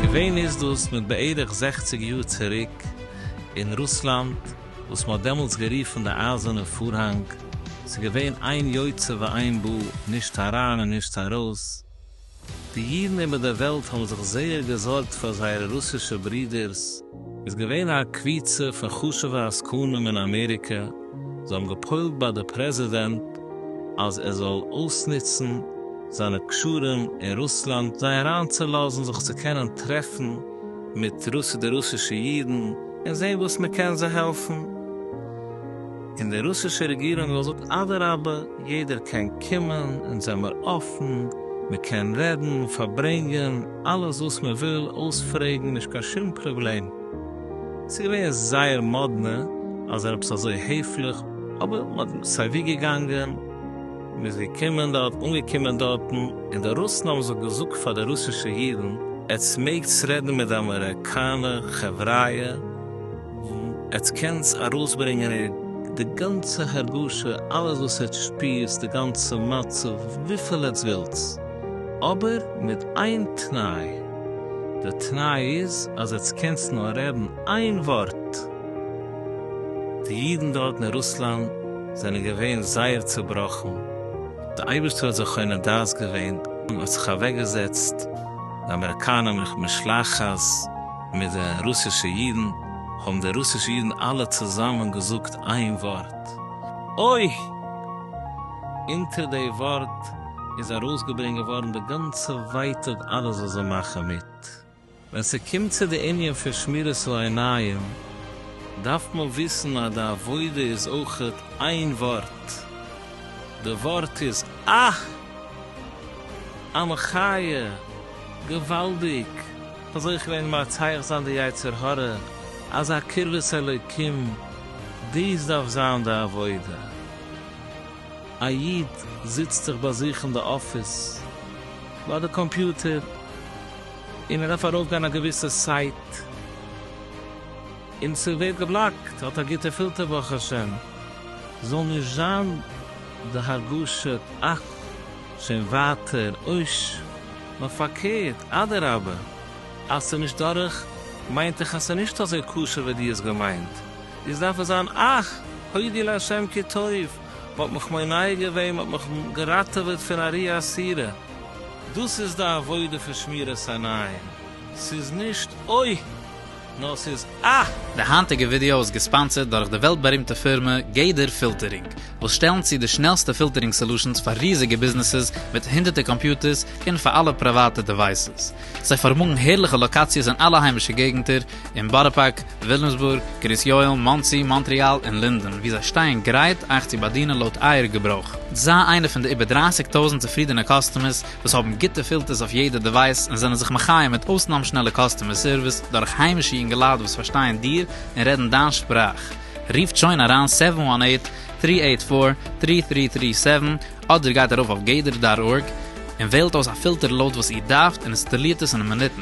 געווען איז דאס מיט בערך זעכציג יאר צוריק אין רוסלאנד וואס מען האט דעמאלטס גערופן די אייזערנע פארהאנג, ס'איז געווען איין יוצא ואין בא, נישט אריין און נישט ארויס, די אידן איבער דער וועלט האבן זיך זייער געזארגט פאר זייערע רוסישע ברידערס. איז געווען א קביצה פון חשוב'ע עסקנים אין אמעריקע, זיי האבן געפוילט ביי דער פרעזידענט אז ער זאל אויסנוצן זיינע קשרים אין רוסלאנד זיי אריינצולאזן זיך צו קענען טרעפן מיט די רוסישע אידן און זען וואס מען קען זיי העלפן. און די רוסישע רעגירונג זאל זאגן אדרבה יעדער קען קומען אונז זעמער אפן מען קען רעדן פארברענגען אלעס וואס מען וויל אויספרעגן נישט קיין שום פראבלעם ס'איז געווען זייער מאדנע אז זיי זענען עפעס אזוי העפליך אבער מען האט סיי ווי געגאנגען מען איז געקומען דארט אנגעקומען דארטן און די רוסן האבן זיך געזאגט פאר די רוסישע אידן עטס מעגטס רעדן מיט די אמעריקאנע חבריא. עטס קענטס ארויסברענגען די גאנצע הרגשה אלעס וואס עטס שפירטס די גאנצע מצב וויפיל עטס ווילטס אבער מיט איין תנאי די תנאי איז אז עטס קענטס נאר רעדן איין ווארט די אידן דארטן אין רוסלאנד זענען געווען זייער צובראכן די אייבערשטער האט זיי קונה דעת געווען און האט זיך אוועקגעזעצט די אמעריקאנער משלחת. מיט די רוסישע אידן, האבן די רוסישע אידן אלע צוזאמען געזאגט איין ווארט, אוי! אונטער די ווארט איז ארויסגעברענגט געווארן די גאנצע ווייטאג אלעס וואס זיי מאכן מיט. ווען ס'קומט צו די ענין פון שמירת העיניים, דארף מען וויסן אז די עבודה איז אויך איין ווארט, די ווארט איז אה! א מחיה! געוואלדיג! אזוי אויך געווען מצליח זיין די יצר הרע, אזא קרבת אלוקים, דאס דארף זיין די עבודה, א איד זיצט זיך ביי זיך אין די אפיס ביי די קאמפיוטער, און ער דארף ארויף גיין א געוויסע סייט, און ס'ווערט געבלאקט, האט א גוטע פילטער ברוך השם, זאל נישט זיין די הרגשה, אך! שוין ווייטער אויש, נאר פארקערט, אדרבה, אז ס'איז נישט דורך, מיינט איך אז ס'איז נישט אזוי קשה ווי דו האסט געמיינט, איז דארף עס זיין אך הודי לה' כי טוב, מ'האט מיך מונע געווען, מ'האט מיך געראטעוועט פון א רי אסירה, דאס איז די עבודה פון שמירת עיניים, ס'איז נישט אוי! נאר ס'איז א. די היינטיגע ווידעא איז געספאנסערד דורך די וועלט בארימטע פירמע גדר פילטערינג, וואס שטעלן צו די שנעלסטע פילטערינג סעלושענס פאר ריזיגע ביזנעסעס מיט הונדערטער קאמפיוטערס און פאר אלע פריוואטע דעווייסעס. זיי פארמאגן הערליכע לאקאציעס אין אלע היימישע געגנטער, אין בארא פארק, וויליאמסבורג, קרית יואל, מאנסי, מאנטריאל און לינדען, וואו זיי שטייען גרייט אייך צו באדינען לויט אייער געברויך. זיי איינער פון די איבער דרײַסיק טויזנט צופרידענע קאסטומערס וואס האבן גוטע פילטערס אויף יעדע דעווייס און זענען זיך מחיה מיט אויסנאם שנעלע קאסטומער סערוויס דורך היימישע אינגעלייט וואס פארשטייען דיר און רעדן דיין שפראך. רופט שוין אריין סעווען וואן עיט, טרי עיט פאר, טרי טרי טרי סעווען אדער גייט ארויף אויף גדר דאט ארג און וועלט אויס א פילטער לויט וואס איר דארפט און אינסטאלירט עס אין מינוטן.